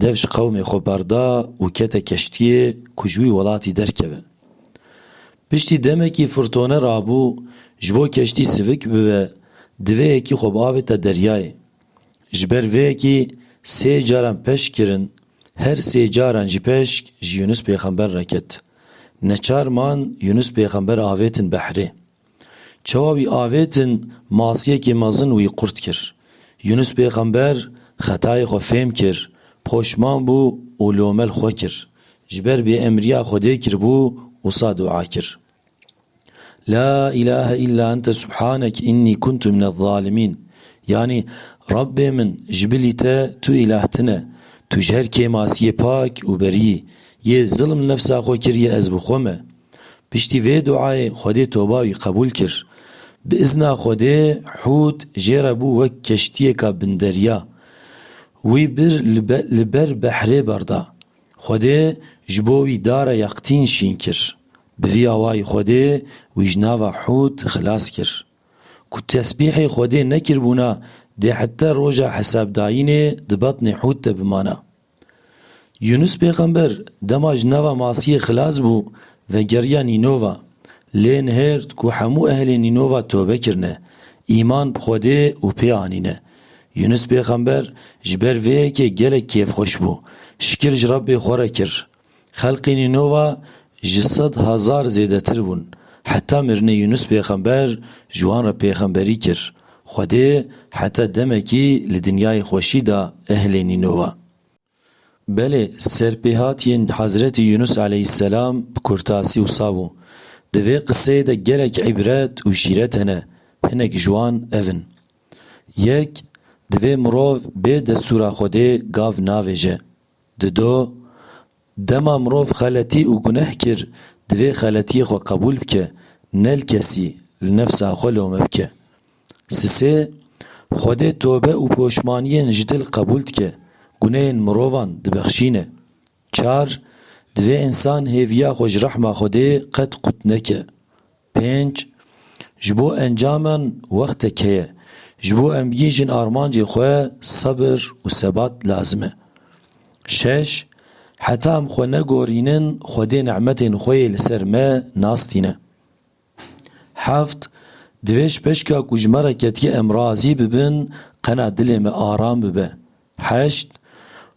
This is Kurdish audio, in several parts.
Dev ji qewmê xwe berda û kete keştiyê ku ji wî welatî derkeve. Piştî demekî firtone rabû, ji bo keştî sivik bibe, divê yekî xwe biavêta deryayê. Ji ber vê yekî sê caran peşk kirin, her sê caran jî peşk ji Yûnus pêxember re ket. Neçar man Yûnus pêxember avêtin behrê. Çawa wî avêtin masiyekê mezin wî qurt kir. Yûnus pêxember xetayê xwe fêm kir, poşman bû û lomel xwe kir. Ji ber bêemriya Xwedê kiribû wisa dua kir, La îlahe îlla ente subhanek înnî kuntu minezzalîmîn yanî Rabbê min ji bilî te tu îlah tine, tu ji her kêmasiyê pak û berî yî, yê zilm nefsa xwe kiriye ez bi xwe me. Piştî vê duayê Xwedê toba wî qebûl kir. Bi izna Xwedê Hûd jê re bû wek keştiyêka binderya. Wî bir li ber behrê berda. Xwedê ji bo wî dara yaqtîn şîn kir. Bi vî awayî Xwedê wî ji nava Hûd xilas kir. Ku tesbîhê Xwedê nekiribûna dê hete roja hesabdayînê di betnê Hûd de bimana. Yûnûs pêxember dema ji nava masiyê xilas bû, vegeriya Nînova. Lê nihêrt ku hemû ehlê Nînova tobe kirine, îman bi Xwedê û pê anîne. Yûnûs pêxember ji ber vê yekê gelek kêfxweş bû. Şikir ji Rebbê xwe re kir. Xelqê Nînova ji sed hezar zêdetir bûn. Heta mirinê Yûnûs pêxember ji wan re pêxemberî kir. Xwedê heta demekî li dinyayê xweşî da ehlê Nînova. Belê serpêhatiyên Hezretî Yûnûs eleyhîsselam bi kurtasî wisa bû. Di vê qiseyê de gelek îbret û şîret hene, hinek ji wan ev in. Yek, divê mirov bê destûra Xwedê gav navêje. Dido, dema mirov xeletî û guneh kir, divê xeletiyê xwe qebûl bike, ne li kesî, li nefsa xwe lome bike. Sisê, Xwedê tobe û poşmaniyên ji dil qebûl dike, guneyên mirovan dibexşîne. Çar, Divê însan hêviya xwe ji rehma Xwedê qet qut neke. Pênc, Ji bo encamen wextek heye. Ji bo em bigihîjin armancên xwe sebir û sebat lazim e. Şeş, Heta em xwe negorînin Xwedê nehmetên xwe yê li ser me nas tîne. Heft, Divê ji peşka ku ji me re ketike em razî bibin qena dilê me aram bibe. Heşt,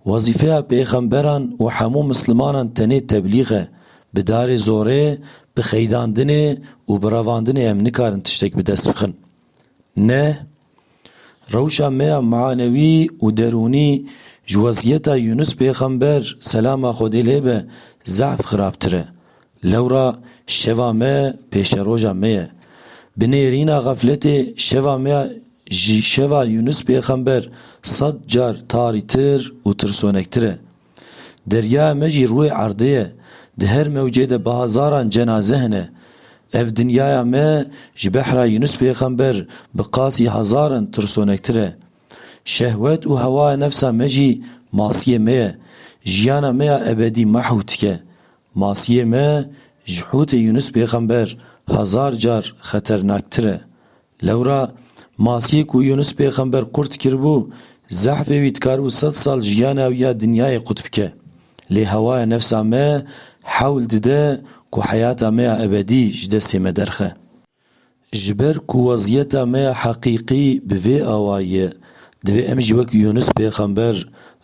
Wezîfeya pêxemberan û hemû mislimanan tenê teblîg e. Bi darê zorê, bi xeydandinê û bi revandinê em nikarin tiştek bi dest bixin. Neh, Rewşa me ya manewî û derûnî ji wezîyeta Yûnus pêxember, selama Xwedê lê be, zehf xirabtir e. Lewra şeva me pêşeroja me ye. Bi nêrîna xefletê şeva me ya ji şeva Yûnus pêxember sed car tarîtir û tirsonektir e. Deryaya me jî rûyê erdê ye, di her mewcê de bi hezaran cenaze hene. Ev dinyaya me ji behra Yûnus pêxember bi qasî hezaran tirsonektir e. Şehwet û hewaya nefsa me jî masiyê me ye. Jiyana me ya ebedî mahw dike. Masiyê me ji hûtê Yûnûs pêxember hezar car xeternaktir e. Lewra masiyê ku Yûnûs pêxember qurt kiribû, zehfê wî dikaribû sed sal jiyana wî ya dinyayê qut bike. Lê hewaya nefsa me hewl dide ku heyata me ya ebedî ji destê me derxe. Ji ber ku weziyeta me ya heqîqî bi vê awa ye, divê em jî wek Yûnus pêxember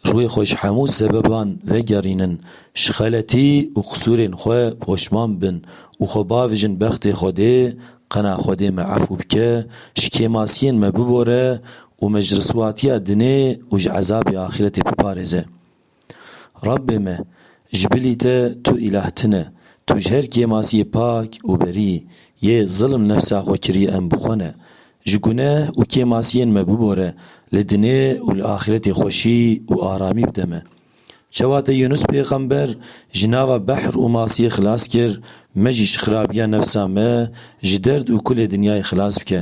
rûyê xwe ji hemû sebeban vegerînin, ji xeletî û qisûrên xwe poşman bin û xwe bavijin bextê Xwedê, qena Xwedê me efû bike, ji kêmasiyên me bibore û me ji riswatiya dinê û ji ezabê axîretê biparêze. Rabbê me, ji bilî te tu îlah tine, tu ji her kêmas yê pak û berî yî, yê zilm nefsa xwe kirî em bi xwe ne. Ji guneh û kêmasiyên me bibore, li dinê û li axîretê xweşî û aramî bide me. Çawa te Yûnus pêxember ji nava behr û masiyê xilas kir, me jî ji xirabiya nefsa me, ji derd û kulê dinyayê xilas bike.